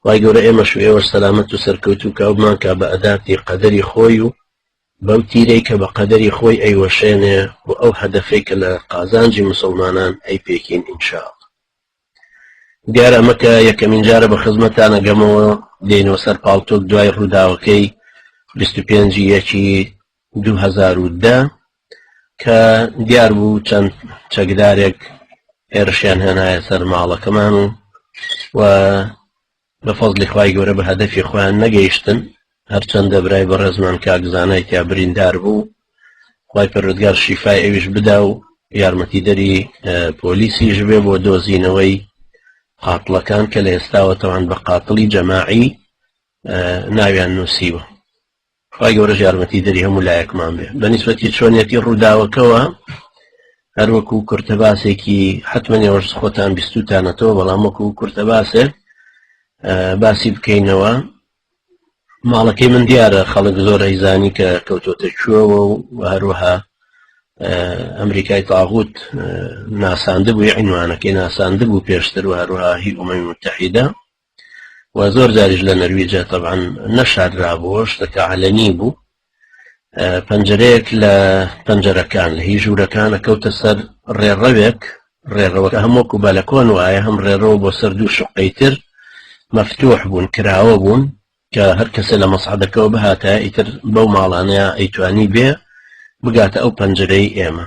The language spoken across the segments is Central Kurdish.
خوای گەورە ئێمەش و ئێوەش سەلامەت و سەرکەوتوو کا و بمانکا بە ئەداتی قەدەری خۆی و بەو تیرەی کە بە قەدەری خۆی ئەیوەشێنێ و ئەو هەدەفەی کە لە قازانجی موسڵمانان ئەیپێکین ان شاء اللە. دیار ئەمە کە یەکەمین جارە بە خزمەتانە گەمەوە دێینەوە سەر پاڵتۆک دوای ڕووداوەکەی بیست و پێنجی یەکی دوو هەزار و دە کە دیار بوو چەند چەکدارێک هێرشیان هێنایە سەر ماڵەکەمان و و بە فەزلی خی گەورە بە هەدەفی خۆیان نەگەیشتن هەرچەندە برای بە ڕێزمان کاکزانای تیا بریندار بوو خی پەرودگار شیفای ئەویش بدا و یارمەتی دەری پۆلیسیش بێ بۆ دۆزینەوەی قاتڵەکان کە لە ئێستاوە تەوان بە قاتڵی جەماعی ناویان نووسیوە خوای گەورەش یارمەتی دەری هەموو لایەکمان بێ بەنیسبەتی چۆنیەتی ڕووداوەکەوە هەروەکو کورتە باسێکی حتممە نێوەش خۆتان بیستوتانەتەوە بەڵام وەکو کورتە باسێ باسی بکەینەوە ماڵەکەی من دیارە خەڵک زۆر ئەیزانی کە کەوتۆتە کوێەوە و هەروەها ئەمریکای تاغوت ناساندبووی عینوانەکەی ناساندبوو پێشتر و هەروەها هی ئومەی متحیدا و زۆر جاریش لە نەرویجە تەبان نەشاررابووە شتەکە عەلەنی بوو پەنجەرەیەک لە پەنجەرەکان لە هی ژوورەکانە کەوتە سەر ڕێڕەوێک ڕێڕەوەکە هەمووکو بالەکۆن وایە هەم ڕێڕەوە بۆ سەر دوو شقەی تر مەفتوح بوون کراوە بوون کە هەر کەسە لە مەسعدەکەەوە بهاتە ئیتر بەو ماڵانەیە ئەیتوانی بێ بگاتە ئەو پەنجەرەی ئێمە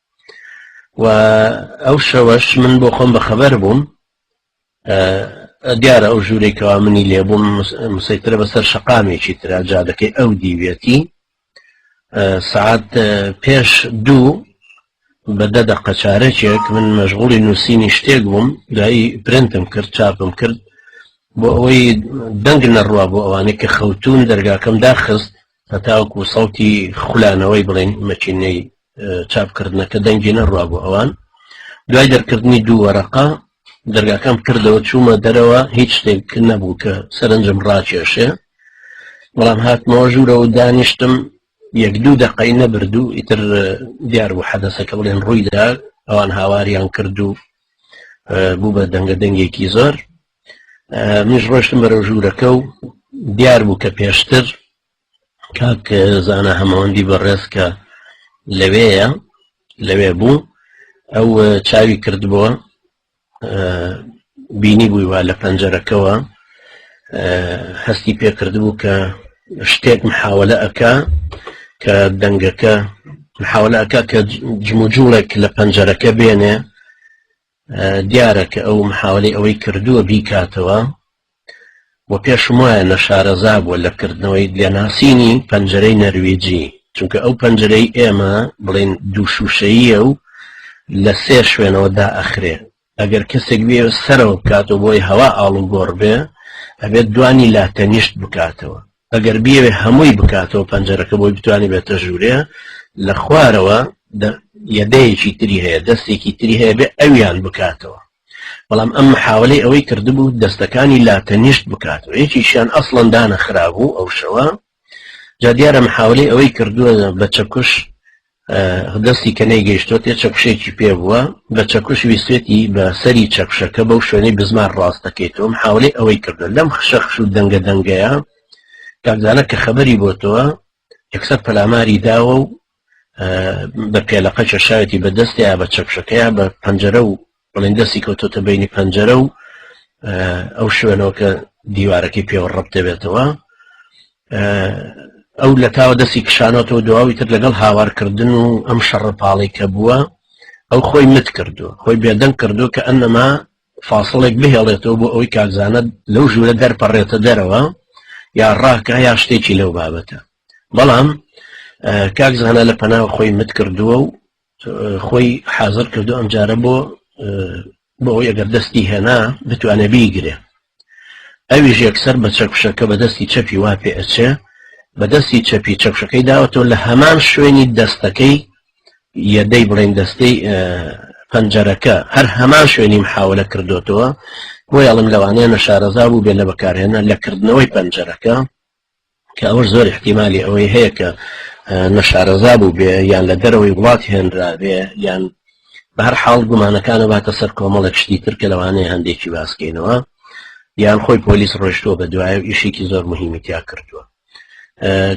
و ئەو شەوەش من بۆ خۆم بەخەبەر بووم دیارە ئەو ژوورەی کەوا منی لێبووم مسەیترە بەسەر شقامێکی تررا جادەکەی ئەو دیوێتی سعات پێش دوو بە دە دەقە چارەکێک من مەژغوڵی نووسینی شتێک بووم دوایی پرنتم کرد چاپم کرد بۆ ئەوەی دەنگ نەڕوا بۆ ئەوانەی کە خەوتون دەرگاکەم داخست هەتاوەکو سەوتی خولانەوەی بڵێن مەچینەی چاپکردنەکە دەنگی نەڕوا بۆ ئەوان دوای دەرکردنی دوو وەرەقا دەرگاکەم کردەوە چوومە دەرەوە هیچ شتێک نەبوو کە سەرنجم ڕاکێشێ بەڵام هاتمەوە ژوورەوە دانیشتم یەک دوو دەقەی نەبردوو ئیتر دیار بوو حەدەسەکە بڵێن ڕوویدا ئەوان هاواریان کرد و بوو بە دەنگە دەنگێکی زۆر منیش ڕۆشتم بەرەو ژوورەکە و دیار بوو کە پێشتر کاک زانە هەمەوەندی بەڕێز کە لەوەیە لەوێ بوو ئەو چاوی کردبووە بینی بووی وا لە پەنجەرەکەەوە هەستی پێکردبوو کە شتێک محاولە ئەکا کە دەنگەکە محاولە ئەکا کە جموجوڵێک لە پەنجەرەکە بێنێ دیارە کە ئەو محاولەی ئەوەی کردووە بیکاتەوە و پێشم وایە نەشارەزا بووە لە کردنەوەی لێناسینی پەنجەرەی نەرویجی چونکە ئەو پەنجەرەی ئێمە بڵین دوو شووشەییە و لە سێ شوێنەوە دا ئەخرێ ئەگەر کەسێک بێ سەرەوە بکاتەوە بۆی هەوا ئاڵوگۆڕ بێ ئەبێت دوانی لا تەنیشت بکاتەوە ئەگەر بیەوێ هەمووی بکاتەوە پەنجەرەکە بۆی بتوانێت بێتە ژوورێ لە خوارەوە یەدەیەکی تری هەیە دەستێکی تری هەیە بێ ئەویان بکاتەوە بەڵام ئەم محاولەی ئەوەی کردبوو دەستەکانی لا تەنیشت بکاتەوە یەکیشیان ئەسڵەن دانە خرابوو ئەو شەوە جا دیارە محاولەی ئەوەی کردووە بە چەکوش دەستی کە نەیگەیشتۆتێ چەکوشێکی پێ بووە بە چەکوش ویسێتی بە سەری چەکشەکە بەو شوێنەی بزمان ڕاستەکەیتەوە محاولەی ئەوەی کردن لەم خشەخش و دەنگە دەنگەیە کاکزانە کە خەبەری بۆتەوە یەکسەر پەلاماری داوە و بە پێلەقە کێشاوێتی بە دەستەیە بە چەکشەکەیان بە پەنجەرە و بەڵێن دەستی کەوتۆتە بینی پەنجەرە و ئەو شوێنەوە کە دیوارەکەی پێوە ڕەب دەبێتەوە ئەو لە تاوە دەستی کشانەوە دواوی تر لەگەڵ هاوارکردن و ئەم شەڕپاڵی کە بووە ئەو خۆی مت کردو خۆی بێدەنگ کردو کە ئەنەما فاصلێک بهێڵێتەوە بۆ ئەوی کاکزانە لەو ژوورە دەرپەڕێتە دەرەوە یا ڕاکە یا شتێکی لەو بابەتە بەڵام کاکزانە لە پەناو خۆی مت کردووە و خۆی حازر کردو ئەمجارە بۆ بۆ ئەوەی ئەگەر دەستی هێنا بتوانێ بیگرێ ئەویش یەکسەر بە چەکوشەکە بە دەستی چەپی وا پێ ئەچێ بە دەستی چەپی چەکشەکەی داوەتەوە لە هەمان شوێنی دەستەکەی یەدەی بڵێن دەستەی پەنجەرەکە هەر هەمان شوێنی محاولە کردوتەوە بۆ یاڵم لەوانەیە نەشارەزا بوو بێ لە بەکارهێنە لە کردنەوەی پەنجەرەکە کە ئەوەش زۆر ئیحتیمالی ئەوەی هەیە کە نەشارەزا بوو بێ یان لە دەرەوەی وڵات هێنرابێ یان بە هەر حاڵ گومانەکانە باتە سەر کۆمەڵێک شتی تر کە لەوانەیە هەندێکی باسکەینەوە یان خۆی پۆلیس ڕۆشتووە بە دوایە و ئیشێکی زۆر مهمی تیا کردووە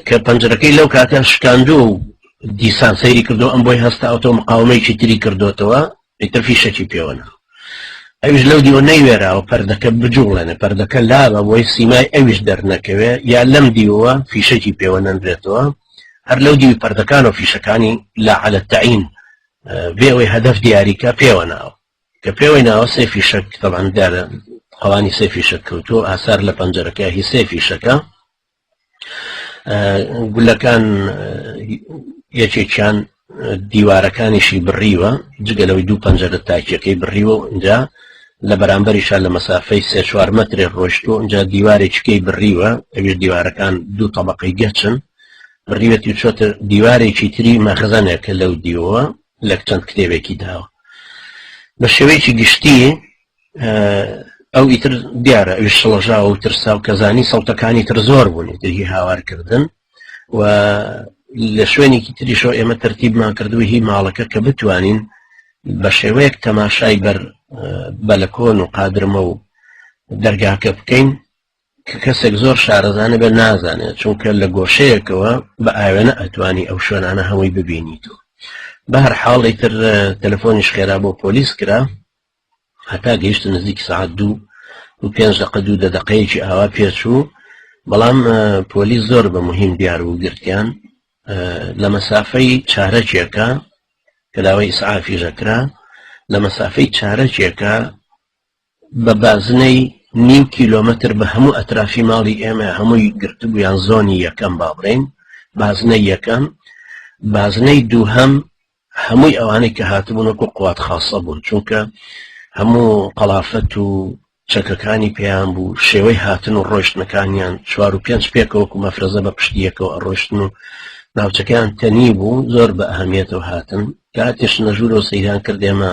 کە پەنجەکەی لەو کاتە شکاندووە و دیسان سەیری کردو ئەم بۆی هەستا ئەوتۆ مقاومەیەکی تری کردوتەوە ئیتر فیشەکی پێوە ناخۆ ئەویش لەو دیوە نەیوێراوە پەردەکە بجوڵێنێ پەردەکە لا بە بۆی سیمای ئەویش دەرنەکەوێ یا لەم دیوە فیشەکی پێوە نەنرێتەوە هەر لەو دیوی پەردەکان و فیشەکانی لا عەلە تەعین بێەوەی هەدەف دیاریکە پێوە ناوە کە پێوەی ناوە سێ فیشەک تەباندارە قەوانی سێ فیشەک کەوتو ئاسار لە پەنجەرەکە هی سێ فیشەکە گولەکان یەکێکیان دیوارەکانیشی بڕیوە جگە لەوەی دوو پەنجەرە تاکیەکەی بڕیوە ئەجا لە بەرامبەریشا لە مەسافەی سێ چوار مترێ ڕۆشتۆ ئەجا دیوارێکیکەی بڕیوە ئەوێ دیوارەکان دوو طبقەی گەچن بڕیوەتی چۆتە دیوارێکی تری مەخزانێکە لەو دیوە لە چەند کتێبێکی داوە بە شێوەیەکی گشتی ئەو ئیتر دیارە ئەوش شڵەژا و ترسا و کەزانی سەڵتەکانی تر زۆر بوونی دژی هاوارکردن و لە شوێنێکی تریشۆ ئێمە تەرتیبمان کردووە هی ماڵەکە کە بتوانین بە شێوەیەک تەماشای بەر بەلەکۆن و قادرمە و دەرگاکە بکەین کە کەسێک زۆر شارەزانە بە نازانێت چونکە لە گۆشەیەکەوە بە ئاوێنە ئەتوانی ئەو شوێنانە هەمووی ببینیت و بە هەر حاڵی تر تەلەفۆنیش خێرا بۆ پۆلیس کرا هەتا گەیشتە نزیک سعات دوو و پێنج دقە دوو دە دقەیەکی ئاوا پێچوو بەڵام پۆلیس زۆر بە مهم دیار و گرتیان لە مەسافەی چارەکێکە کە داوای ئیسعافیژەکرا لە مەسافەی چارەکێکە بە بازنەی نیو کیلۆمەتر بە هەموو ئەترافی ماڵی ئێمە هەمووی گرتبوویان زۆنی یەکەم با بڵێن بازنەی یەکەم بازنەی دووهەم هەمووی ئەوانەی کە هاتبوون وەکو قوات خاصە بوون چونکە هەموو قەڵافەت و چەکەکانی پێیان بوو شێوەی هاتن و ڕۆشتنەکانیان چوار و پێنج پێکەوەکو مەفرەزە بە پشتیەکەەوە ئەڕۆشتن و ناوچەکەیان تەنی بوو زۆر بە ئەهمیێتەوە هاتن کاتێش نەژوورەوە سەیران کردێمە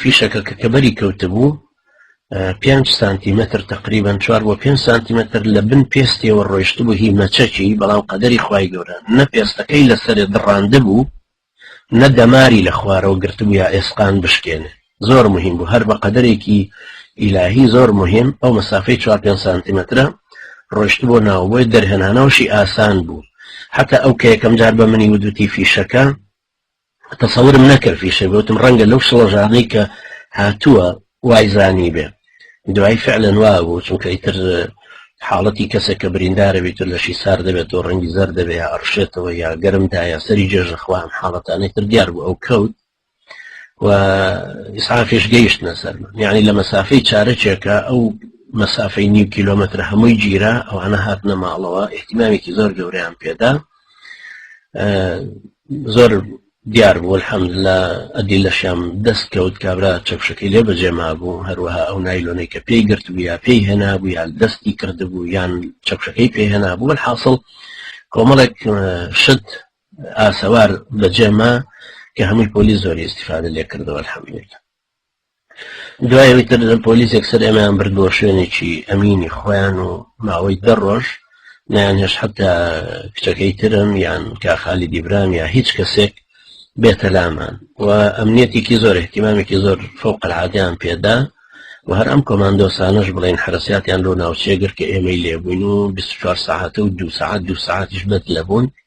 فیشەکە کە کەبەری کەوتبوو پێ سانتیمەتر تقریبان چوار بۆ پێ سانتیمەتر لە بن پێستیەوە ڕۆیشت بوو هی مەچەکی بەڵام قەدەری خی گەورە نە پێستەکەی لەسەر دڕاند بوو نە دەماری لە خوارەوە گرتبوو یا ئێسقان بشکێنێ زۆر مهم بوو هەر بە قەدەرێکی ئیلاهی زۆر مهم ئەو مەسافەی 4 پێ سانتیمەترە ڕۆشت بۆ ناوبۆی دەرهێنانەوەشی ئاسان بوو حتا ئەو کە یەکەم جار بە منی ودوتی فیشەکە تەسەورم نەکرد فیشە گوتم ڕەنگە لەو شڵەژانەی کە هاتووە وایزانی بێ دوای فعلەن وا بوو چونکە ئیتر حاڵەتی کەسێک کە بریندارە بێت لە شی سار دەبێت و ڕەنگی زەر دەبێ یا ئەڕشێتەوە یا گەرمدایە سەری جێژە خوام حاڵەتانەی تر دیار بوو ئەو کەوت و ئیسعافش گەیشتە سەر یعنی لە مەسافەی چارەکێکە ئەو مەسافەی نیو کیلومتر هەمووی گیرا ئەوانە هاتنە ماڵەوە احتیمامێکی زۆر گەوریان پێدا زۆر دیار بوو الحەمد لە ئەدی لەشیان دەست کەوت کابرا چەکشەکەی لێ بەجێ مابوو هەروەها ئەو نایلۆنەی کە پێی گرت بوو یا پێی هێنابوو یان دەستی کردبوو یان چەکشەکەی پێ هێنابوو حاصل کۆمەڵێک شت ئاسەوار بەجێما کە هەمووی پۆلی زۆری استفادە لێ کردەوە الحەمد لله دوای ئەوەی تر پۆلیسێک سەر ئێمەیان برد بۆ شوێنێکی ئەمینی خۆیان و ماوەی دە ڕۆژ نیان هێش حتا کچەکەی ترم یان کاخالی دیبرام یا هیچ کەسێک بێتە لامان و ئەمنیەتێکی زۆر احتیمامێکی زۆر فوق العادیان پێدا و هەر ئەم کۆماندۆسانش بڵین حرساتیان لۆ ناوچێگر کە ئێمەی لێبووین و 24 ساعتە و دو ساعت دو ساعتیش بەد لەبوون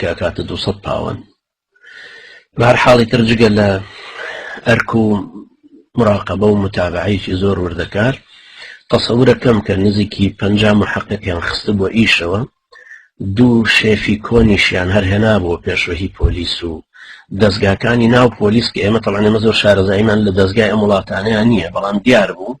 کاکاتە دوو سەد پاوەن بار حاڵی تر جگە لە ئەرک و مراقبە و متابعەیەکی زۆر وردەکار تەسەورە کەم کە نزیکی پ محققیان خستە بۆ ئیشەوە دوو شێفی کۆنیشیان هەر هێنابووە پێشوەهی پۆلیس و دەستگاکانی ناو پۆلیس کە ئێمە تەڵانێمە زۆر شارەزاییمان لە دەستگای ئەم وڵاتانیان نییە بەڵام دیار بوو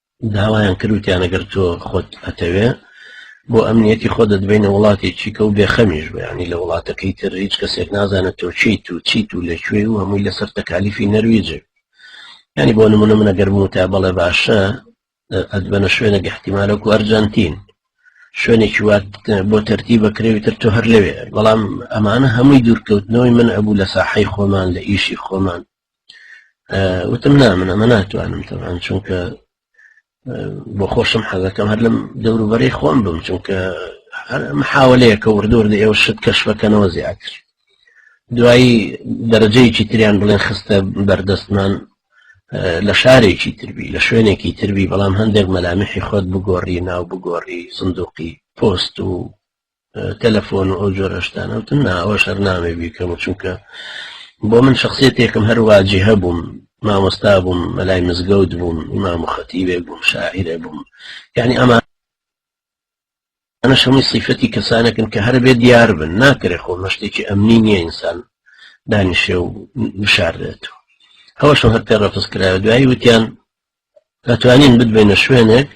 داوایان کرد وتیان ئەگەر تۆ خۆت ئەتەوێ بۆ ئەمنیەتی خۆ دەدبینە وڵاتی چیکە و بێخەمیش بەیانی لە وڵاتەکەی تر هیچ کەسێک نازانێت تۆ چیت و چیت و لەکوێ و هەمووی لەسەر تەکالیفی نەرویجێ ینی بۆ نمونە منە گەرم و تا بەڵێ باشە ئەدبەنە شوێنە گەحتیمالەکو ئەرجەنتین شوێنێکی وات بۆ تەرتی بەکرێوی تر تۆ هەر لەوێ بەڵام ئەمانە هەمووی دوورکەوتنەوەی من ئەبوو لە ساحەی خۆمان لە ئیشی خۆمان وتم نا من ئەمە ناتوانم تەوان چونکە بۆ خۆشم حەزەکەم هەر لەم دەوروبەری خۆم بم چونکە محاولەیەکە وردور لە ئێوە شت کەشفەکەنەوە زیاتر دوایی دەرەجەیەکی تریان بڵێن خستە بەردەستمان لە شارێکی تربی لە شوێنێکی تربی بەڵام هەندێک مەلامیحی خۆت بگۆڕی ناو بگۆڕی سندوقی پۆست و تەلەفۆن و ئەو جۆرە شتانە وتم نا ئەوە شەر نامێ بیکەم چونکە بۆ من شخصێتێکم هەرواجی هەبووم مامۆستا بووم مەلای مزگەوت بووم ئیمام خەتیبێ بووم شاعرە بووم یعنی ئەمە ئەە شەمەی سیفەتی کەسانەکن کە هەر بێ دیار بن ناکرێ خۆ مەشتێکی ئەمنی نییە ئینسان دانیشێ و بشارێت و ئەوەش هەر پێ ڕەفز کرا دوایی وتیان دەتوانین بدبێنە شوێنێک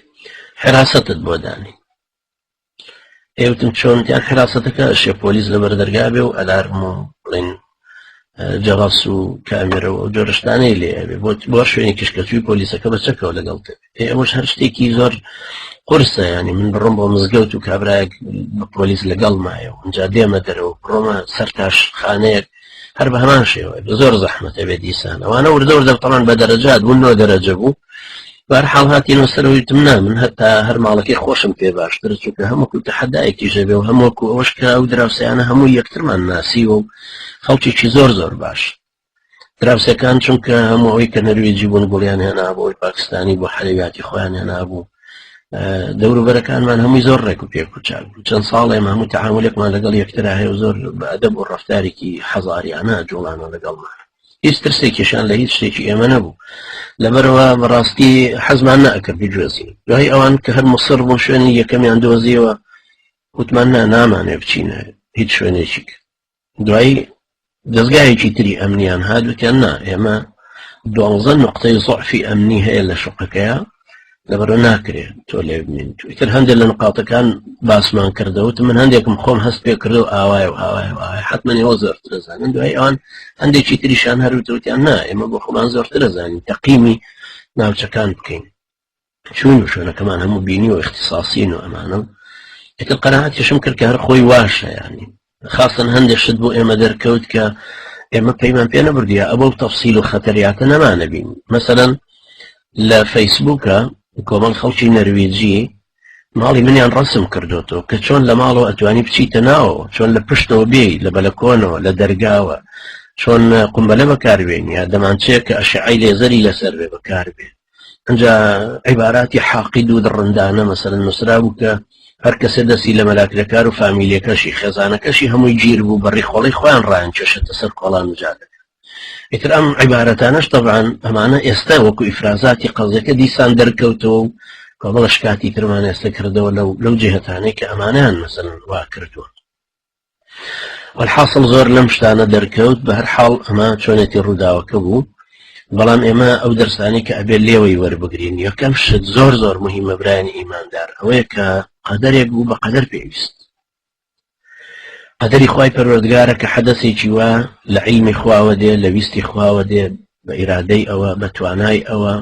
حراستت بۆ دانی ئێوتم چۆن یا کراستەکە شێ پۆلیس لە بەردەرگا بێ و ئەلارم و بڵین جەڕاس و کامێرە و جۆرشتانەی لێ بۆت بۆ شوێنی کشکەچوی پۆلیسەکە بە چەکەوە لەگەڵ پێ ئەوەش هەر شتێکی زۆر قرسە ینی من بڕم بۆ مزگەوت و کابراایەک پۆلیس لەگەڵ مایە و ئەجا دێمە دەرەوە بڕۆمە سەر تاش خانەیەک هەر بە هەمان شێوە زۆر زەحمەتە بێت دیسان ئەوانە وردە وردە تەمان بە دەرەجات بوون نۆ دەرەجە بوو بار حاڵ هاتیینەوە سەرەوەیتم نا من هەتا هەر ماڵەکەی خۆشم پێ باشتر چونکە هەمووکو تەحدایەکی ژەبێ و هەمووکو ئەوش کرا و دراوسیانە هەموو یەکترمان ناسیوە و خەڵکیی زۆر زۆر باش دراوسەکان چونکە هەموو ئەوی کە نەروێجی بوون گوڵیان هێنا بۆی پاکستانی بۆ حەلویاتی خۆیان هێنا بوو دەوروبەرەکانمان هەمووی زۆر ڕێک و پێک و چاک بوو چەند ساڵ ئێمە هەموو تەعاملێکمان لەگەڵ یەکترا هەیە و زۆر بەدە بۆ ڕفتارێکی حەزاریانە جوڵانە لەگەڵمان هیچ ترسێکیشان لە هیچ شتێکی ئێمە نەبوو لەبەرەوە بەڕاستی حەزمان نەکرد بجوێزین دوای ئەوان کە هەر مسر بۆ شوێنی یەکەمیان دۆزیەوە وتمان نا نامانێ بچینە هیچ شوێنێکی کرد دوایی دەزگایەکی تری ئەمنیان هادوتیان نا ئێمە دوانزە نقطەی زعفی ئەمنی هەیە لە شقەکەیە لەبەرە ناکرێت تۆ لێ بمین تویتر هەندێک لە نقاتەکان باسمان کردەوت من هەندێکم خۆم هەست پێ کرد و ئاوای و ئاوای ئاوای حتممەنی ئەو زۆرترە زانن دوای ئەوان هەندێکی تریشان هەروتوتیان نا ئێمە بۆ خۆمان زۆرترە زانین تەقیمی ناوچەکان بکەین چوین و شوێنەکەمان هەموو بینی و اختصاصین و ئەمانە و ئیتر قەناعەتیشم کرد کە هەر خۆی واشە یانی خاصن هەندێک شت بۆ ئێمە دەرکەوت کە ئێمە پەیمان پێ نەبردیە ئەوە و تەفسیل و خەتەریاتە نەمانە بین مەسەەن لە فەیسبووکە کۆمەڵ خەڵکی نەرویجی ماڵی منیان ڕسم کردوەوە کە چۆن لە ماڵەوە ئەتوانی بچیتە ناوە چۆن لە پشتەوە بێ لە بەلەکۆنەوە لە دەرگاوە چۆن قمبەلە بەکاربێن یا دەمانچەیە کە ئەشعی لێزەری لەسەر بێ بەکاربێت ئەجا عیباراتی حاقید و دڕندانە مەسەرن نووسرا بوو کە هەر کەسێ دەستی لە مەلاکرەکار و فامیلەکەشی خێزانەکەشی هەمووی گیر بوو بەڕی خۆڵی خۆیان ڕایان کێشێتە سەر کۆڵان و جادەکە ئیتر ئەم عیبارەتانەش تەبان ئەمانە ئێستا وەکو ئیفرازاتی قەزەکە دیسان دەرکەوتەوە و کۆمەڵە شکاتی ترمان ئێستا کردەوە لەو لەو جهتانەی کە ئەمانیان مەسەن وا کردووە وەلحاسڵ زۆر لەم شتانە دەرکەوت بە هەر حاڵ ئەمە چۆنێتی ڕووداوەکە بوو بەڵام ئێمە ئەو دەرسانی کە ئەبێ لێوەی وەربگرین یەکەم شت زۆر زۆر مهمە برانی ئیماندار ئەوەیە کە قەدەرێک بوو بە قەدەر پێویست قەدەری خی پەروەردگارە کە حەدەسێکی وە لە عیلمی خواوە دێ لە ویستی خواوە دێ بە ئیرادەی ئەوە بە توانای ئەوە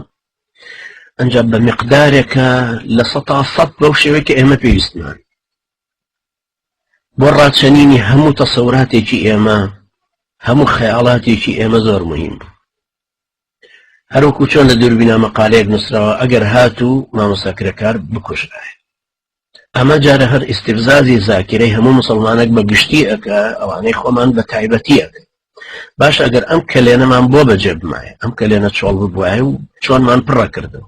ئەجا بە مقدارێکە لە سە سە بەو شێوەی کە ئێمە پێویستمان بۆ ڕاچەنینی هەموو تەسەوراتێکی ئێمە هەموو خەیاڵاتێکی ئێمە زۆر مهم بوو هەروکو چۆن لە دووربینا مەقالەیەک نووسراوە ئەگەر هات و مامۆساکرەکار بکوژرایە ئەمە جارە هەر ئیسیبزازی زاکرەی هەموو مسلمانێک بە گشتی ئەەکە ئەوانەی خۆمان بە تایبەتی ئەەکە باش ئەگەر ئەم کەلێنەمان بۆ بەجێ بمایە ئەم کەلێنە چۆڵ ببوایە و چۆنمان پڕەکردن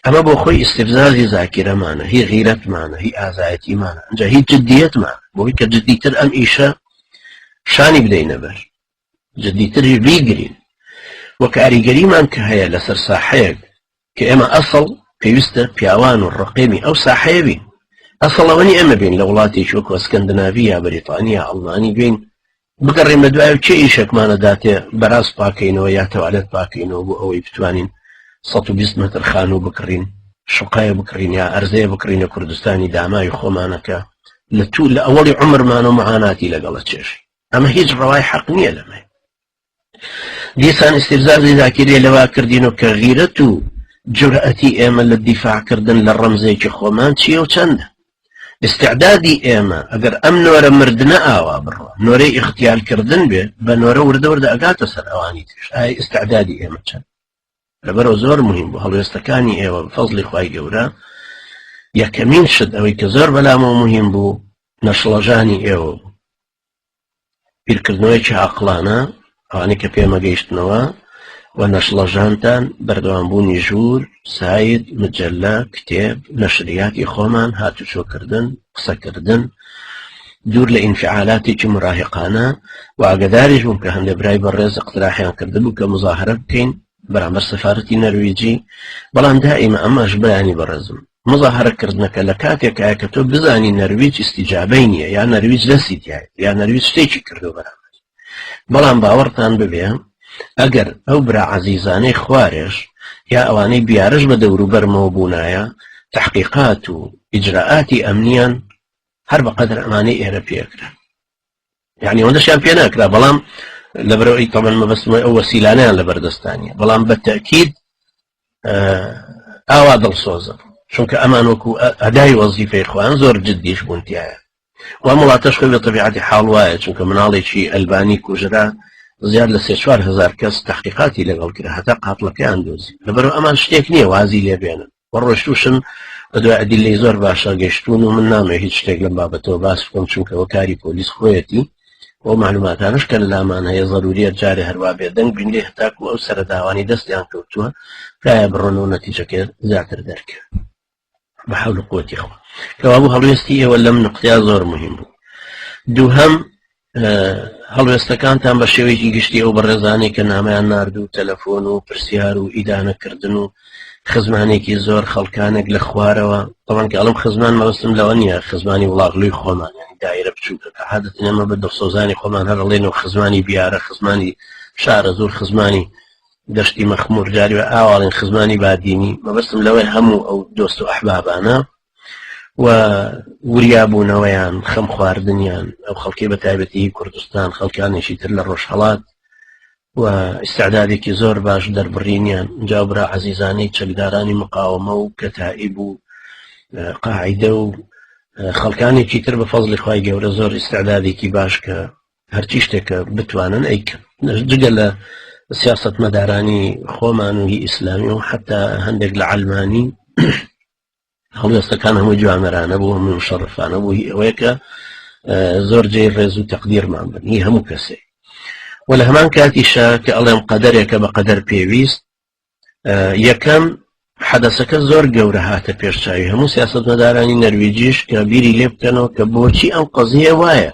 ئەمە بۆ خۆی ئیستفزازی زاکیرەمانە هی غیرەتمانە هی ئازایەتیمانە ئەجا هی جددیەتمان بۆی کە جددیتر ئەم ئیشە شانی بدەینە بەر جددیتری بیگرین و کاریگەریمان کە هەیە لەسەر ساحەیەک کە ئێمە ئەسڵ پێویستە پیاوان و ڕقێمی ئەو ساحەیە بین ئەسڵەوەنی ئەمە بین لە وڵاتێکی وەکو ئەسکەندناوی یا بەریتانیا ئەڵمانی بین بگەڕێینە دوای و چ ئیشێکمان ئەداتێ بەراز پاکەینەوە یا تەوالێت پاکەینەوە بۆ ئەوەی بتوانین 120 مەتر خانوو بکڕین شوقای بکڕین یا ئەرزەیە بکڕینە کوردستانی داماوی خۆمانەکە لە تو لە ئەوەڵی عمرمان و معاناتی لەگەڵە چێش ئەمە هیچ ڕەوای حەق نییە لەمە دیسان استفزازی زاکری لەوا کردین و کە غیرەت و جورئەتی ئێمە لە دیفاعکردن لە ڕەمزێکی خۆمان چیە و چەندە ئیستعدادی ئێمە ئەگەر ئەم نۆرە مردنە ئاوا بڕوا نۆرەی ئیختیال کردن بێ بە نۆرە وردە وردە ئەگاتە سەر ئەوانی ترش ئای ئیستعدادی ئێمە چەند لەبەرەوە زۆر مهم بۆ هەڵوێستەکانی ئێوە فەزلی خی گەورە یەکەمین شت ئەوەی کە زۆر بەلامەوە مهم بوو نەشڵەژانی ئێوە بیرکردنەوەیەکی عەقڵانە ئەوانەی کە پێمە گەیشتنەوە و نەشڵەژانتان بەردەوامبوونی ژوور ساید مجللە کتێب نەشریاتی خۆمان هاتوچۆکردن قسەکردن دوور لە ئینفعالاتێکی مراهقانە و ئاگداریش بووم کە هەندێک برای بە ڕێز قتراحیان کردبوو کە مزاهرە بکەین بەرامبەر سەفاەتی نەرویجی بەڵام دائیمە ئەمەش بەیانی بەڕێزم مزاهەرە کردنەکە لە کاتێکایە کە تۆ بزانی نەرویج ئیسیجابەی نییە یا نەرویج دەستی تایە یا نەرویج شتێکی کردو بەرامبەر بەڵام باوەڕتان ببێ ئەگەر ئەو برا عزیزانەی خوارێش یا ئەوانەی بیارش بە دەورو بەرمەوە بوونایە تحقیقات و ئیجرراعاتی ئەمنیان هەر بە قەدر ئەمانەی ئێرە پێکرا یعنی ئەوەندەشیان پێ ناکرا بەڵام لەبەرەوەی تەمەن مەبەستمە ئەو وەسیلانیان لە بەردەستانیە بەڵام بە تەکیید ئاوا دڵسۆزم چونکە ئەمان وەکو ئەدای وەزیفەی خوان زۆر جددیش بوونتیایە و وڵاتەش خۆی لە طبیعاتی حاڵ وایە چونکە مناڵێکی ئەلبانی کوژرا زیاد لە سێ چوار هزار کەس تحقیقاتی لەگەڵ کرا هەتا قاتڵەکەیان دۆزی لەبەر ئەمان شتێک نییە وازی لێبێنن و ڕۆشتوشن بە دوای ئەدیلەی زۆر باشە گەشتون و من نامێ هیچ شتێک لەم بابەتەوە باس بکەم چونکەەوە کاری پۆلیس خۆیەتی ئەو معلوماتانش کە لامان هەیە ضروریە جارێ هەروا بێ دەنگ بینرێ هەتاکو ئەو سەرداوانی دەستیان کەوتووە تایە بڕۆن و نەتیجەکە زیاتر دەرکە بە حول قوتی خۆ کەوابوو هەڵوێستی ئێوە لەم نقطیا زۆر مهم بوو دووهم هەڵوێستەکانتان بە شێوەیەکی گشتی ئەو بەڕێزانانی کە نامیان نردوو تەلەفۆن و پرسیار و ئیدانەکردن و خزمانێکی زۆر خەڵکانێک لە خوارەوە ئەوان کە ئەڵم خزمان مەوەستم لەوە نیە خزمانی وڵاغلوی خۆمان یعنی دایرە بچووکە کە حادت نەمە بە دڵسۆزانی خۆمان هەرڵێن و خزمانی بیارە خزمانی شارە زۆر خزمانی دەشتی مەخمور جاری ئاواڵین خزمانی بادینی مەبەستم لەوەی هەموو ئەو دۆست و ئەحبابانە و وریابوونەوەیان خەم خواردنیان ئەو خەڵکی بە تایبەتی کوردستان خەڵکانێکی تر لە ڕۆژهڵات و ئستعدادێکی زۆر باش دەربڕینیان جاوبرا عزیزانەی چەکدارانی مقاومە و کەتائیب و قاعدە و خەڵکانێکی تر بە فەزلی خی گەورە زۆر ئستعدادێکی باش کە هەرچی شتێکە بتوانن ئەیکەن جگە لە سیاست مەدارانی خۆمان و هی ئیسلامی و حتا هەندێک لە علمانی هەڵوێستەکان هەمووی جوامەرانە بوو هەمووی مشەڕفانە بوو هی ئەوەیە کە زۆر جێ ڕێز و تەقدیرمان بن هی هەموو کەسێک و لە هەمان کاتیشە کە ئەڵێم قەدەرێکە بە قەدەر پێویست یەکەم حەدەسەکە زۆر گەورە هاتە پێشچوی هەموو سیاست مەدارانی نەرویجیش کە بیری لێ بکەنەوە کە بۆچی ئەم قەزیە وایە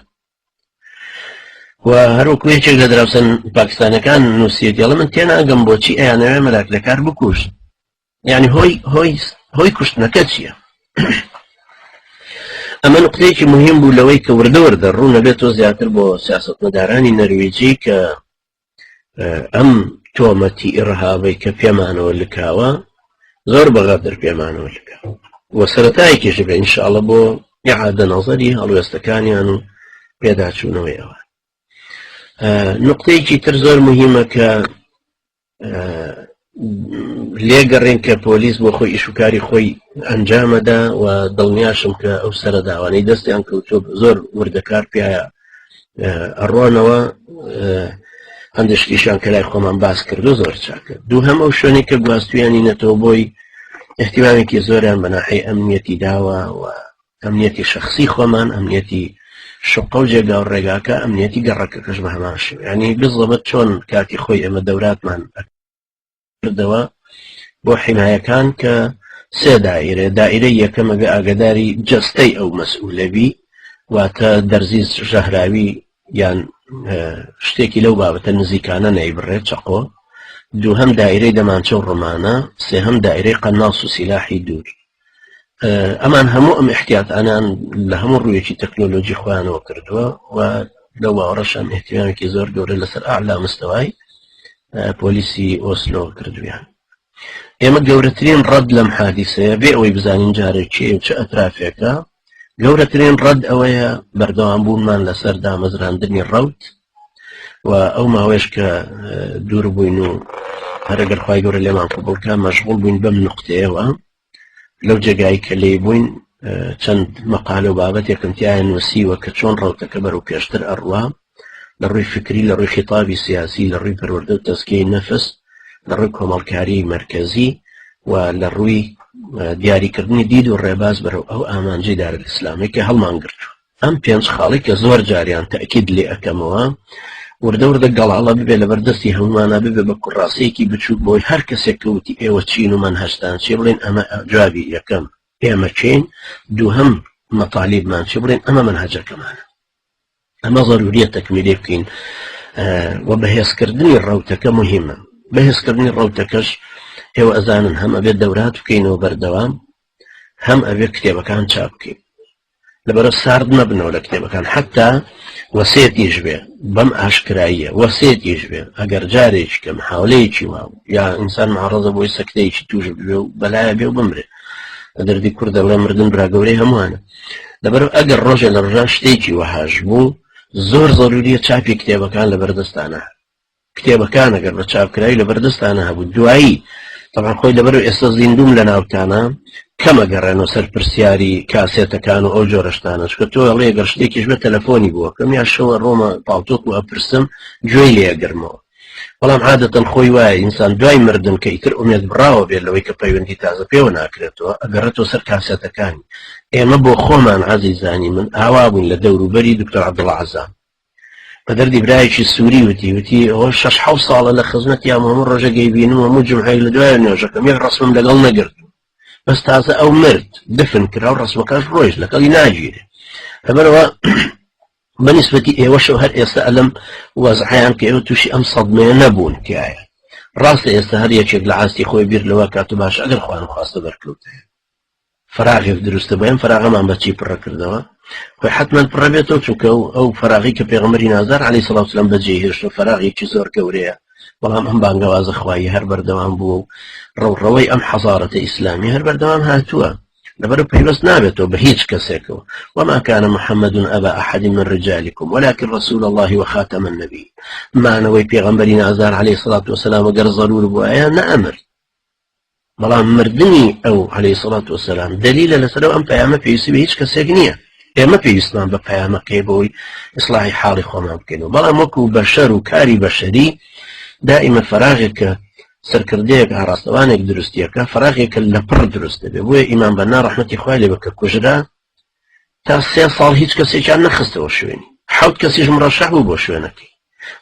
و هەروکو یەکێک لە دراوسن پاکستانەکان نووسیت یڵە من تێناگەم بۆچی ئەیانەوێ مەلاکلەکار بکوشت یعنی هۆی هۆی هۆی کوشتنەکە چییە؟ ئەمە نقطەیەکی مهم بوو لەوەی کە وردە وردە ڕوو نەبێت تۆ زیاتر بۆ سیاستمەدارانی نەرویجی کە ئەم تۆمەتی ئڕهاوی کە پێمانەوە لکاوە زۆر بەغەدر پێمانەوە لکە وە سەرەتایکیش بێ انشاءڵە بۆ عادە نەزەری هەڵوێستەکانیان و پێداچوونەوەی ئەوە نقطەیەکی تر زۆر مهمە کە لێگەڕێن کە پۆلیس بۆ خۆی ئیشوکاری خۆی ئەنجامەدا و دڵنیاشم کە ئەو سرە داوانەی دەستیان کەوتۆ زۆر وردەکار پیاە ئەڕۆنەوە هەندشتیشان کە لای خۆمان باس کردو زۆر چاکە دوو هەم ئەو شوێنی کە گواستویانی نەتەوە بۆی احتیمامێکی زۆریان بەناحی ئەمنیەتی داوە و ئەمنیەتی شەخسی خۆمان ئەمنیەتی شقە و جێگا و ڕێگاکە ئەمنیەتی گەڕەکەکەش بە هەمان شێ ینی بزڵبت چۆن کاتی خۆی ئێمە دەوراتمان کردەوە بۆ حیمایەکان کە سێ دائرێ دائرەی یەکەمەبێ ئاگداری جەستەی ئەو مەسئولەبی واتە دەرزیز ژەهراوی یان شتێکی لەو بابەتە نزیکانە نەیبڕێ چەقۆ دووهم دایرەی دەمانچە و ڕمانە سێهم دایرەی قەناس و سیلاحی دوور ئەمان هەموو ئەم احتیات ئەنان لە هەموو ڕوویەکی تەکنۆلۆژی خۆیانەوە کردووە و لە واڕەشان احتیامێکی زۆر گەورە لەسەر ئالا مستەوای پۆلیسی ئۆسلۆ کردویان ئێمە گەورەترین ڕەد لەم حادیسەیە بێ ئەوەی بزانین جارێکی چ ئەترافێکە گەورەترین ڕەد ئەوەیە بەردەوام بوونمان لەسەر دامەزراندنی ڕوت و ئەو ماوەش کە دوور بووین و هەرەگەر خخوای گەورە لێمان قوبڵکە مەشغول بووین بەم نقطەیەوە لەو جێگای کە لی بووین چەند مەقالە و بابەتێکم تایە نووسیوە کە چۆن ڕوتەکە بەرەو پێشتر ئەڕوا لە ڕووی فکری لە ڕووی خیتابی سیاسی لە ڕووی پەروەردە و تەسکەی نەفس لە ڕووی کۆمەڵکاری مرکزی و لە ڕووی دیاریکردنی دید و ڕێباز بەرەو ئەو ئامانجی دارە ئسلامێکی هەڵمانگرتو ئەم پێنج خاڵی کە زۆر جاریان تاکید لێ ئەەکەمەوە وردە وردە گەڵاڵە ببێ لەبەر دەستی هەمومانە ببێ بە کوڕاسەیەکی بچووک بۆی هەر کەسێک کەوتی ئێوە چین و من هەشتان چی بڵێن ئەمە جوابی یەکەم ئێمە چین دووهم مەتالیبمان چی بڵێن ئەمە من هەجەکەمانە ئەمە ضرورە تەکمیلێ بکەین و بەهێزکردنی ڕوتەکە مهمە بەهێزکردنی ڕوتەکەش ئێوە ئەزانن هەم ئەبێت دەورات بکەینەوە بەردەوام هەم ئەبێت کتێبەکان چاپ بکەین لەبەرە سارد نەبنەوە لە کتێبەکان حتا وەسێتیش بێ بەم ئاشکراییە وەسێتیش بێ ئەگەر جارێکی کەم حاولەیەکی واو یا ئینسان معڕزە بۆی سەکتەیەکی توش بێ و بەلایە بێ و بمرێ لە دەردی کوردە بڵێ مردن براگەورەی هەمووانە لەبەر ئەگەر ڕۆژێ لە ڕژان شتێکی وەهاش بوو زۆر زەروریە چاپی کتێبەکان لە بەردەستانە کتێبەکان ئەگەر بە چاپکراوی لەبەر دەستانە هەبوو دوایی تەبان خۆی لەبەر ئێستا زیندوم لە ناوتانە کەمە گەڕێنەوە سەر پرسیاری کاسێتەکان و ئەو جۆرەشتانەش کە تۆ هەڵێ گەر شتێکیش بە تەلەفۆنی بووە کەم یا شەوە ڕۆمە پاڵتۆک و ئەپرسم گوێی لێگرمەوە بەڵام عادەتەن خۆی وایە ئینسان دوای مردن کە ئیتر ئومێت بڕاوە بێت لەوەی کە پەیوەندی تازە پێوە ناکرێتەوە ئەگەڕێتەوە سەر کاسێتەکانی ئێمە بۆ خۆمان عزیزانی من ئاوا بوون لە دەوروبەری دکتۆر عبدڵ عزام بە دەردی برایەکی سووری وتی وتی ئەوە شش حو ساڵە لە خزمەتی ئەم هەموو ڕۆژە گەیبینم و هەموو جمعەیەک لە دوای نوێژەکەم یەک ڕسمم لەگەڵ نەگرت بەس تازە ئەو مرد دفن کرا و ڕسمەکەش ڕۆژ لەگەڵی ناگیرێ لەبەرەوە بەنیسبەتی ئێوەشەوە هەر ئێستا ئەلم وەزحیان کە ئێوە تووشی ئەم سەدمێ نەبوون تایە ڕاستە ئێستا هەر یەکێک لە ئاستی خۆی بیر لەوە کات و باش ئەگەر خوان خواستە بەرکەوتێ فەراغێک دروستە بۆ ئەم فەراغەمان بە چی پڕە کردەوە خۆی حتممەند پڕە بێتەوە چونکە و ئەو فەراغی کە پێغمەری نازار علی سلااوسلام بەجێ هێشت و فەراغێکی زۆر گەورەیە بەڵام ئەم بانگەوازە خوایی هەر بەردەوام بووە و ڕەوڕەوەی ئەم حەزارەتە ئیسلامی هەر بەردەوام هاتووە لەبەر پەیوەست نابێتەوە بە هیچ کەسێکەوە وما كان محمد أبا أحد من رجالكم ولكن رسول الله وخاتم النبي مانەوەی پێغمبەری نازار عليه الصلاة والسلام گەر ضرور بواە نەئەمر بەڵام مردنی ئەو عەلەیهی سەڵات وەسەلام دەلیلە لەسەر ئەو ئەم پەیامە پێویستی بە هیچ کەسێک نییە ئێمە پێویستمان بە پەیامەکەی بۆی ئیسلاحی حاڵی خۆمان بکەینەوە بەڵام وەکو بەشەر و کاری بەشەری دائیمە فراغێکە سەرکردەیەک ئاراستەوانێک دروستیەکە فراغێکە لە پڕ دروست دەبێ بۆیە ئیمان بەنا ڕحمەتی خوای لێ بکە کوژرا تا سێ ساڵ هیچ کەسێکیان نەخستەوە شوێنی حەوت کەسیش مڕەشەح بوو بۆ شوێنەکەی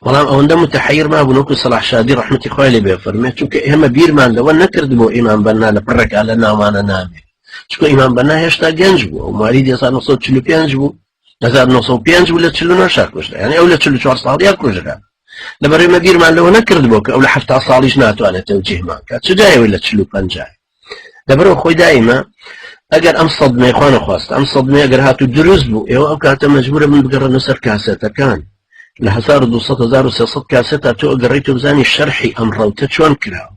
بەڵام ئەوەندە متحیر ما بنووکو سەلاح شادی ڕحمەتی خوای لێ بێ فەرمێت چونکە ئێمە بیرمان لەوە نەکرد بۆ ئیمان بەنا لە پڕێکا لە ناوانە نامێت چکۆ ئیمان بەنا هێشتا گەنج بوو ئەو ماری 1945 بوو 1995 بوو لە چلو ناشا کوژرا یعنی ئەو لە 44 ساڵیا کوژرا لەبەرێمە بیرمان لەوە نەکرد بۆ کە ئەو لە هەفتا ساڵیش ناتوانێت تەوجیهمان کات چجایەوەی لە چلو پنجای لەبەرەوە خۆی دایمە ئەگەر ئەم سەدمەی خوانە خواست ئەم سەدمێ ئەگەر هات و دروست بوو ئێوە ئەو کاتە مجبورە من بگەڕنە سەر کاسێتەکان لە 1970 کاسێت تا تۆ ئەگەڕی تۆ بزانی شەرحی ئەم ڕەوتە چۆن کراوە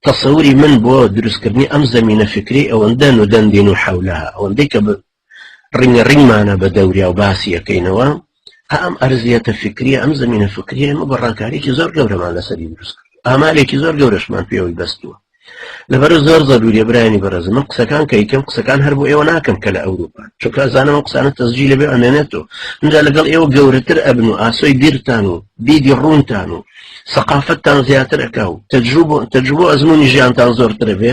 تەسەوری من بۆ دروستکردنی ئەم زمینە فکری ئەوەندە و دەندین و حولها ئەوەندەی کە ڕینگە ڕینمانە بە دەوریا و باسی یەکەینەوە ها ئەم ئەرزیەتە فکریە ئەم زمینە فکریە ئمە بە ڕاکارێکی زۆر گەورەمان لەسەری دروست کرد ئامالێکی زۆر گەورەشمان پێوەی بەستووە لەبەر زۆر زەروریە برانی بەڕێز من قسەکان کە یکەم قسەکان هەر بۆ ئێوە ناکەم کە لە ئەوروپا چونکە زانەوە قسانە تەزجی لەبێ ئەمێنێتەوە اینجا لەگەڵ ئێوە گەورەتر ئەبن و ئاسۆی بیرتان و دیدی ڕوونتان و سەقافتتان زیاتر ئەکا و تەجروب تەجروبۆ ئەزمموی ژیانتان زۆرترە بێ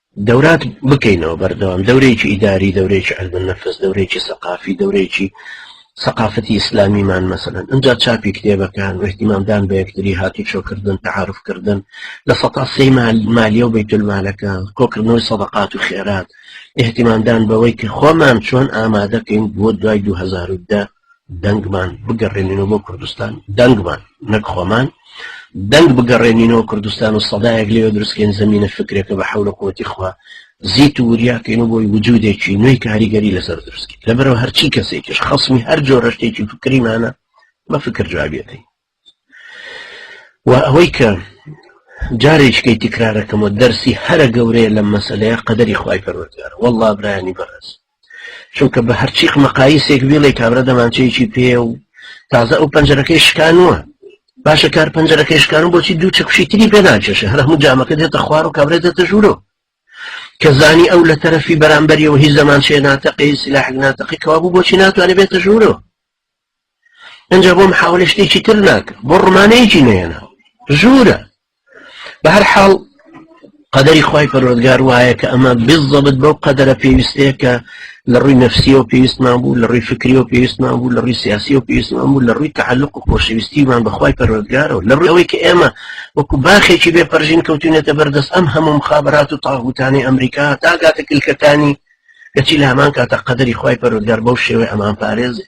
دەورات بکەینەوە بەردەوام دەورێکی ئیداری دەورێکی علم النفس دەورێکی سەقافی دەورێکی سەقافەتی ئیسلامیمان مەسەن ئەجا چاپی کتێبەکان و احتیمامدان بە یەکتری هاتو چۆکردن تعاعرفکردن لە سەتا سەی مالیە و بەیتولمالەکە کۆکردنەوەی سەدەقات و خێرات احتیمامدان بەوەی کە خۆمان چۆن ئامادەکەین بۆ دوای 2010 دەنگمان بگەڕێنینەوە بۆ کوردستان دەنگمان نەک خۆمان دەنگ بگەڕێنینەوە کوردستان و سەدایەک لێ درستکەین زمینە فکرێکە بە حول قوتی خوا زیت و وریاکەین و بۆی وجودێکی نوێی کاریگەری لەسەر درستکی لەبەرەوە هەرچی کەسێکیش خەسمی هەر جۆرەشتێکی فکریمانە بە فکر جوابیەکەین وە ئەوەی کە جارێکیکەی تکرارەکەمەوە دەرسی هەرە گەورەیە لەم مەسلەیە قەدەری خوای پەروەردگار والله برایانی بەڕێز چونکە بە هەرچیق مەقایسێک بێڵێ کابرا دەمانچەیەکی پێ و تازە ئەو پەنجەرەکەی شکانوە باشە کار پەنجەرەکەی شکانو بۆچی دوو چەکشی تری پێ ناکێشە هەر هەموو جامەکە دێتە خوار و کابرێت دێتە ژوورۆ کە زانی ئەو لە تەرەفی بەرامبەریەوە هیچ زەمان شێ ناتەقی سلاحک ناتەقی کەوابوو بۆچی ناتوانێت بێتە ژوورۆ ئەجا بۆ محاولە شتێکی تر ناکە بۆ ڕمانەیەکی نێنە ژوورە بە هەر حاڵ قەدەری خی پەرۆدگار وایە کە ئەمە بزەبت بەو قەدەرە پێویستەیە کە لە ڕووی نفسیەوە پێویستمان بوو لە ڕووی فکریەوە پێویستمان بوو لە ڕووی سیاسی و پێویستمان بوو لە ڕووی تعلق و خۆشەویستیمان بەخوای پەرۆدگارەوە لە ڕووەوەی کە ئێمە وەکو باخێکی بێ پەرژین کەوتونێتە بەردەست ئەم هەموم خابرات و تاغوتانی ئەمریکا تاگاتە کلکەکانی کەچی لەهەمان کاتە قەدەری خی پەرۆزگار بەو شێوەی ئەمان پارێزێ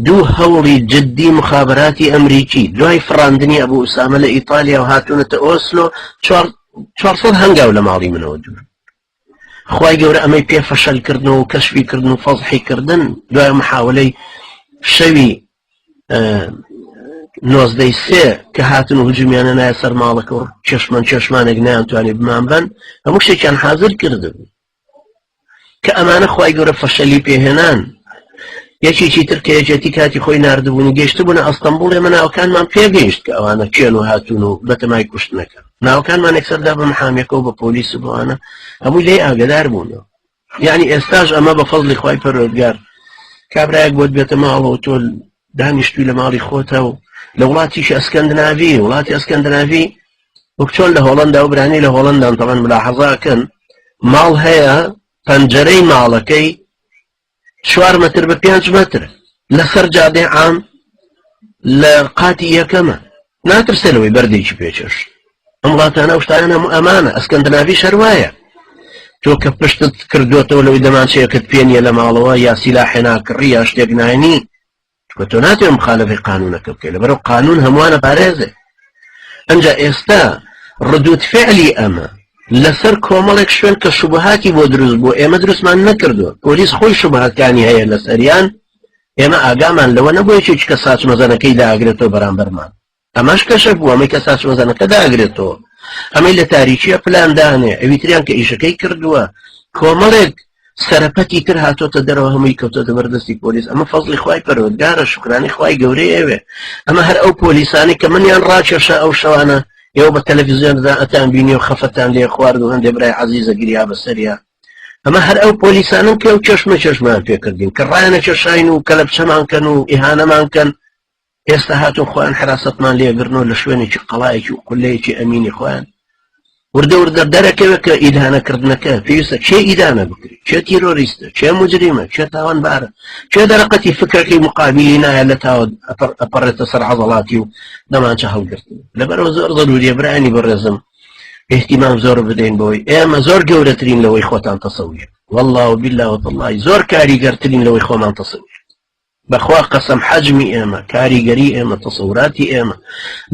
دوو هەوڵی جددی مخابراتی ئەمریکی دوای فراندنی ئەبوو ئوسامە لە ئیتالیا و هاتوونەتە ئۆسلۆ 400 هەنگاو لە ماڵی منەوە دوور خی گەورە ئەمەی پێ فەشەل کردن و کەشوی کردن و فەزحی کردن دوای محاولەی شەوی نۆزدەی سێ کە هاتن و هجومیانە نایە سەر ماڵەکە و چێشمان چێشمانێک نیان توانێت بمان بن هەموو شتێکیان حاضر کردبوو کە ئەمانە خوای گەورە فەشەلی پێهێنان یەکێکی تر کە یەکێتی کاتی خۆی نردبوونی گەشتبوون ئەستەمبول ئێمە ناوکانمان پێگەیشت کە ئەوانە کێن و هاتوون و بەتەمای کوشتنەکە ناوکانمان یەکسەردا بە محامەکەەوە بە پۆلیس و بەوانە هەموو لێ ئاگدار بوونەوە یعنی ئێستاش ئەمە بە فەزلی خی پەرۆگار کابراەک بۆت بێتە ماڵەوە تۆ دانیشتوی لە ماڵی خۆتە و لە وڵاتیش ئەسکەندناوی وڵاتی ئەسکەندناوی وەک چۆن لە هۆڵندا و برانی لە هۆڵندان تەڵەن ملاحەزاکەن ماڵ هەیە پەنجەرەی ماڵەکەی چوار متر بە پێنج متر لەسەر جادێ عام لە قاتی یەکەمە ناترسێ لەوەی بەردێکی پێچش ئەم وڵاتانە شتانە هەموو ئەمانە ئەسکەندناوی شەروایە تۆ کە پشتت کردوێتەوە لەوەی دەمانچەیەکت پێنیە لە ماڵەوە یاسیلا حێناکڕی یا شتێک ناینی چونکە تۆ ناتوێ مخالەفەی قانونەکە بکەی لەبەرەو قانون هەمووانە بارێزێ ئەنجا ئێستا ردود فعلی ئەمە لەسەر کۆمەڵێک شوێن کە شوبهاتی بۆ دروست بۆ ئێمە دروستمان نەکردووە پۆلیس خۆی شوبهاتکانی هەیە لەسەریان ئێمە ئاگامان لەوە نەبووە چ کە ساچ مەزەنەکەی داگرێتەوە بەرامبەرمان ئەمەش کەشە بوو ئەمەی کە ساسۆزانەکە داگرێتەوە ئەمەی لە تاریکیە پلاندانێ ئەوی تریان کە ئیشەکەی کردووە کۆمەڵێک سەرپەتی تر هاتۆتە دەرەوە هەمووی کەوتە دەبەردەستی پۆلیس ئەمە فەزلی خی پەرۆگارە شکرانی خی گەورەی ئەوێ ئەمە هەر ئەو پۆلیسانی کە منیان ڕاکێشە ئەو شەوانە ئێوە بە تەلەڤزیۆندا ئەتان بینی و خەفەتان لێ خوارد و هەندێ برای عزیزە گریا بەسەریا ئەمە هەر ئەو پۆلیسانم کە و چەشمە چەشمان پێکردین کە ڕایەنە چەشاین و کەلەپچەمانکەن و ئیهانەمانکەن ئێستا هاتوون خۆیان حراستمان لێگرنەوە لە شوێنێکی قەڵایەکی و قلەیەکی ئەمینی خۆیان وردە وردە دەرەکەوێت کە ئیدانەکردنەکە پێویستە چێ ئیدانە بکرێت چێ تیرۆریستە چێ مجریمە چێ تاوانبارە چێ دەرەقەتی فکرەکەی مقابلی نایە لە تاوە ئەپەڕێتە سەر عەزەڵاتی و دەمانچە هەڵگرتن لەبەرەوە زۆر زەروریە برانی بەڕێزم احتیمام زۆر بدەین بۆی ئێمە زۆر گەورەترین لەوەی خۆتان تەسەویە والله و بالله و تەڵی زۆر کاریگەرترین لەوەی خۆمان تەسەویە بەخوا قەسەم حەجمی ئێمە، کاریگەری ئێمە، تەسەوراتی ئێمە،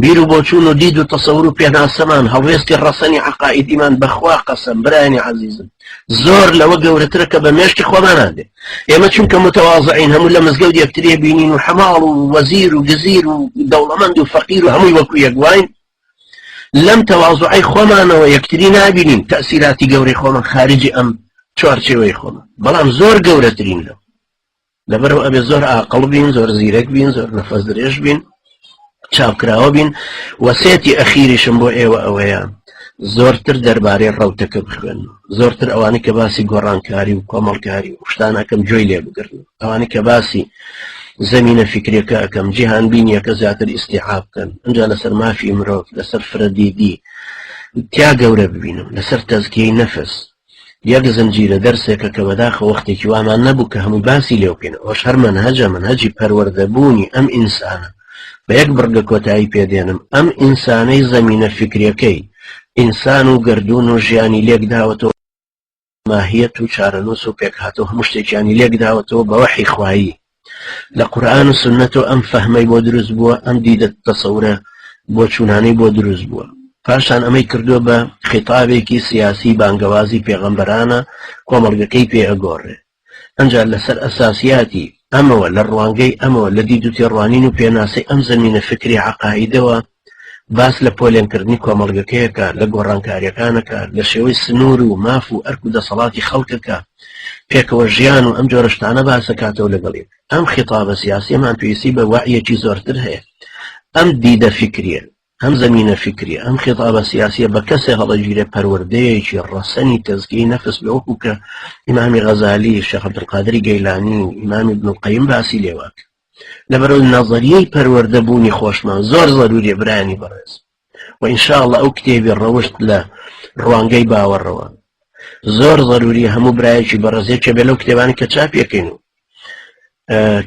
بیر و بۆچوون و دید و تەسەور و پێناسەمان، هەڵوێستی ڕەسەنی عەقائیدیمان، بەخوا قەسەم برایانی عەزیزم زۆر لەوە گەورەترە کە بە مێشکی خۆمانا دێ. ئێمە چونکە موتەوازعین هەموو لە مزگەوت یەکتری ئەبینین و حەماڵ و وەزیر و گزیر و دەوڵەمەند و فەقیر و هەمووی وەکو یەک واین، لەم تەوازوعەی خۆمانەوە یەکتری نابینین، تەئسیراتی گەورەی خۆمان خارجی ئەم چوارچێوەی خۆمان، بەڵام زۆر گەورەترین لەوە. لەبەرەوە ئەبێ زۆر ئاقل بین زۆر زیرەک بین زۆر نەفەس درێژ بین چاپکراوە بین وەسێتی ئەخیریشم بۆ ئێوە ئەوەیە زۆرتر دەربارەی ڕوتەکە بخوێن زۆرتر ئەوانی کە باسی گۆڕانکاری و کۆمەڵکاری و شتانەکەم جۆی لێ بگرن ئەوانی کە باسی زمینە فکرەکە ئەەکەم جیهان بینیەکە زیاتر ئیسیعاب بکەن ئەجا لەسەر مافی مرۆڤ لەسەر فرەدیدی تیا گەورە ببینم لەسەر تەزکیی نەفس یەک زنجیرە دەرسێکە کە بەداخە وەختێکی وامان نەبوو کە هەموو باسی لێو بکەین ئەوش هەر منهجە منهجی پەروەردەبوونی ئەم ئینسانە بە یەک بڕگە کۆتایی پێدێنم ئەم ئینسانەی زەمینە فکرەکەی ئینسان و گردون و ژیانی لێک داوەتەوە ماهیەت و چارەنووس و پێکهاتە و هەموو شتێکیانی لێک داوەتەوە بەوەحی خوایی لە قورآن و سنەتەوە ئەم فەهمەی بۆ دروست بووە ئەم دیدە تەسەورە بۆ چوونانەی بۆ دروست بووە پاشان ئەمەی کردووە بە خیتابێکی سیاسی بانگەوازی پێغەمبەرانە کۆمەڵگەکەی پێ ئەگۆڕێ ئەجا لەسەر ئەساسیاتی ئەمەوە لە ڕوانگەی ئەمەوە لە دید و تێڕوانین و پێناسی ئەم زمینە فکری عقاعدەوە باس لە پۆلێنکردنی کۆمەڵگەکەیەکە لە گۆڕانکاریەکانەکە لە شێوەی سنوور و ماف و ئەرک و دەسەڵاتی خەڵکەکە پێکەوە ژیان و ئەم جۆرەشتانە باسەکاتەوە لەگەڵی ئەم خیتابە سیاسیمان پێویستی بە وعیەکی زۆرتر هەیە ئەم دیدە فکریە ئەم زمینە فکری ئەم خێتابە سیاسیە بە کەسێ هەڵەگیرێ پەروەردەیەکی ڕەسەنی تەزگی نەفس بە وەکو کە ئیمامی غەزالی شەخەبدقادری گەیلانی ئیمامی بنقیم باسی لێوات لەبەرو نەزەریەی پەروەردە بوونی خۆشمان زۆر زەروریە برانی بەڕێز و ئینشاءاللە ئەو کتێبی ڕەوشت لە ڕوانگەی باوەڕەوە زۆر زەروری هەموو برایەکی بەڕێزێکە بێ لەو کتێبانی کە چاپیەکەین و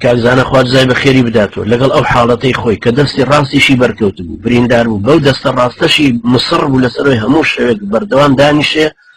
کاکزانە خوارزای بە خێری بداتەوە لەگەڵ ئەو حاڵەتەی خۆی کە دەستی ڕاستیشی بەرکەوت بوو بریندار بوو بەو دەستە ڕاستەشی مسڕ بوو لەسەرۆی هەموو شەوێک بەردەوام دانیشێ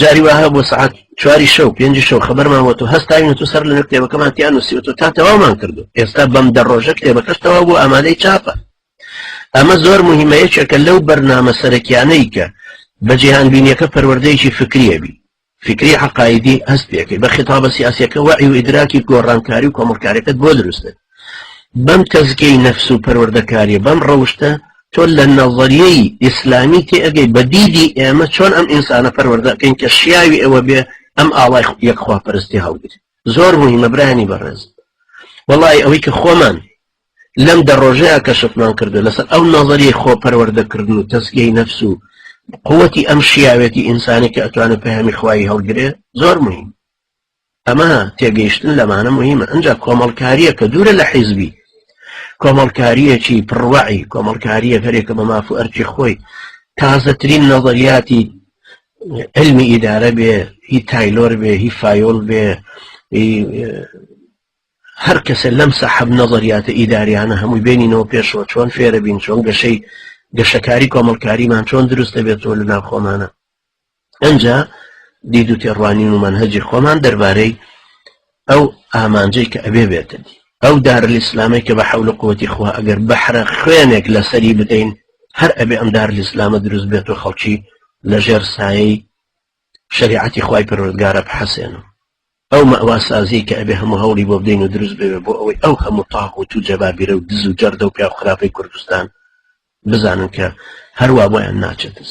جاری وهە بۆ سعات چواری شەو پێنج شەو خبرمان بۆ تۆ هەستاوین تۆ سەر لە کتێبەکەمان تیان وسی تۆ تا تەوامان کردو ئێستا بەم دە ڕۆژە کتێبەکەش تەوا بۆ ئامادەی چاپە ئەمە زۆر مهمە یەکێکە لەو بەرنامە سەرەکیانەی کە بە جیهانبینیەکە پەروەردەیەکی فکریەبی فکری حقایدی هەست پێکەی بە خطابە سیاسەکە وعی و ئیدراکی گۆڕانکاری و کۆمەڵکارەکەت بۆ دروستێت بەم تەزکیەی نەفس و پەروەردەکاریە بەم ڕەوشتە تۆ لە نەڤەریەی ئیسلامی تێ ئەگەی بە دیدی ئێمە چۆن ئەم ئینسانە پەروەردەکەین کە شیاوی ئەوە بێ ئەم ئاڵای یەکخوا پەرستی هەڵگرێت زۆر مهمە برانی بەڕێز وەڵی ئەوەی کە خۆمان لەم دە ڕۆژەیە کە شفمان کردو لەسەر ئەو نەزەری خۆ پەروەردەکردن و تەسگەی نەفس و قوتی ئەم شیاوێتی ئینسانی کە ئەتوانێت پەیامی خوای هەڵگرێ زۆر مهم ئەمە تێگەیشتن لەمانە مهمە ئەجا کۆمەڵکاریە کە دوورە لە حیزبی کۆمەڵکاریەکی پڕوەعی کۆمەڵکاریە هەرێکە بە ماف و ئەرکی خۆی تازەترین نەڵدەریاتی علمی ئیدارە بێ هی تایلۆر بێ هی فایۆل بێ هەر کەسە لەم سەحب نەزریاتە ئیداریانە هەمووی بینینەوە پێشەوە چۆن فێرە بین چۆن گەشەی گەشەکاری کۆمەڵکاریمان چۆن دروستە بێتەوە لە ناوخۆمانە ئەنجا دید و تێڕوانین و مەنهەجی خۆمان دەربارەی ئەو ئامانجەی کە ئەبێ بێتە دی ئەو دارلئیسلامەی کە بە حەول و قوتی خوا ئەگەر بەحرە خوێنێک لەسەری بدەین هەر ئەبێ ئەم دارلئیسلامە دروست بێت و خەڵکی لەژێر سایەی شریعەتی خوای پەروەردگارە بحەسێنم ئەو مەواسازی کە ئەبێ هەموو هەوڵی بۆ بدەین و دروست بێ بۆ ئەوەی ئەو هەموو تاق و تو جەبابیرە و دز و جەردە و پیاو خراپەی کوردستان بزانن کە هەروە بۆیان ناچێتز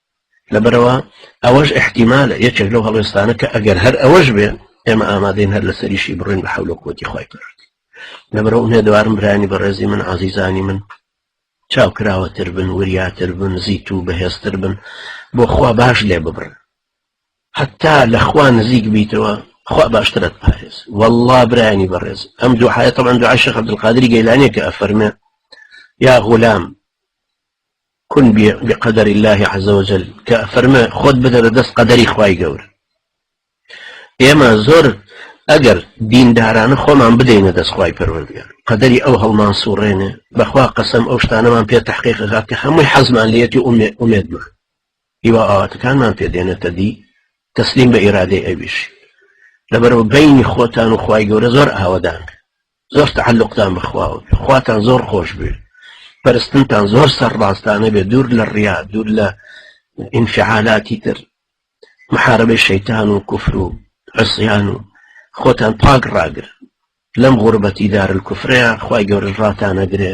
لەبەرئەوە ئەوەش ئیحتیمالە یەکێک لەو هەڵوێستانە کە ئەگەر هەر ئەوەش بێ ئێمە ئامادەین هەر لەسەریشی بڕین بە حەول و قوتی خۆی پرد لەبەرە ئومێدوارم برانی بەڕێزی من عزیزانی من چاوکراوەتر بن وریاتر بن زیت و بەهێزتر بن بۆ خوا باش لێ ببرن حتا لە خوا نزیک بیتەوە خوا باشترت پارێز والله برانی بەڕێز ئەم دوو حایەتە من دوعاشە عبدالقادری گەیلانێکە ئەفەرمێ یا غولام کون بقدر اللە عز وجل کە فەرمە خۆت بدەرە دەست قەدەری خوای گەورە ئێمە زۆر ئەگەر دیندارانە خۆمان بدەینە دەستخوای پەروەردگار قەدەری ئەو هەڵمان سوڕێنێ بەخوا قەسەم ئەو شتانەمان پێ تحقیق غات کە هەمووی حەزمان لەتی ئومێدمان هیوا ئاواتەکانمان پێدێنێتە دی تەسلیم بە ئیرادەی ئەویش لەبەرەوە بینی خۆتان و خی گەورە زۆر ئاوەدان زۆر تەعەلوقتان بە خواوە بێ خواتان زۆر خۆش بێ پەرستنتان زۆر سەر ڕاستانە بێ دوور لە ڕیا دوور لە ئینفعالاتی تر محاربەی شەیتان و کوفر و عسیان و خۆتان پاک ڕاگر لەم غوربەتی دار کوفرەیە خی گەورەش ڕاتانەگرێ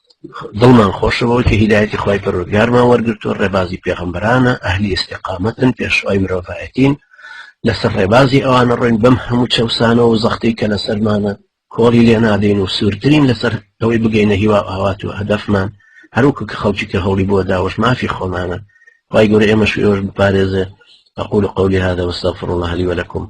دڵمان خۆشە بەوەی کە هیدایەتی خوای پەروەردگارمان وەرگرتووە ڕێبازی پێغەمبەرانە ئەهلی ئیستیقامەتن پێشوای مرۆڤایەتین لەسەر ڕێبازی ئەوانە ڕۆین بەم هەموو چەوسانەوە و زەختەی کە لەسەرمانە کۆڵی لێ نادەین و سوورترین لەسەر ئەوەی بگەینە هیوا ئاوات و هەدەفمان هەروکو کە خەڵکی کە هەوڵی بۆ داوەش مافی خۆمانە خی گەورە ئێمەش ئێوەش بپارێزێ أقول قولي هذا واستغفر الله لي ولكم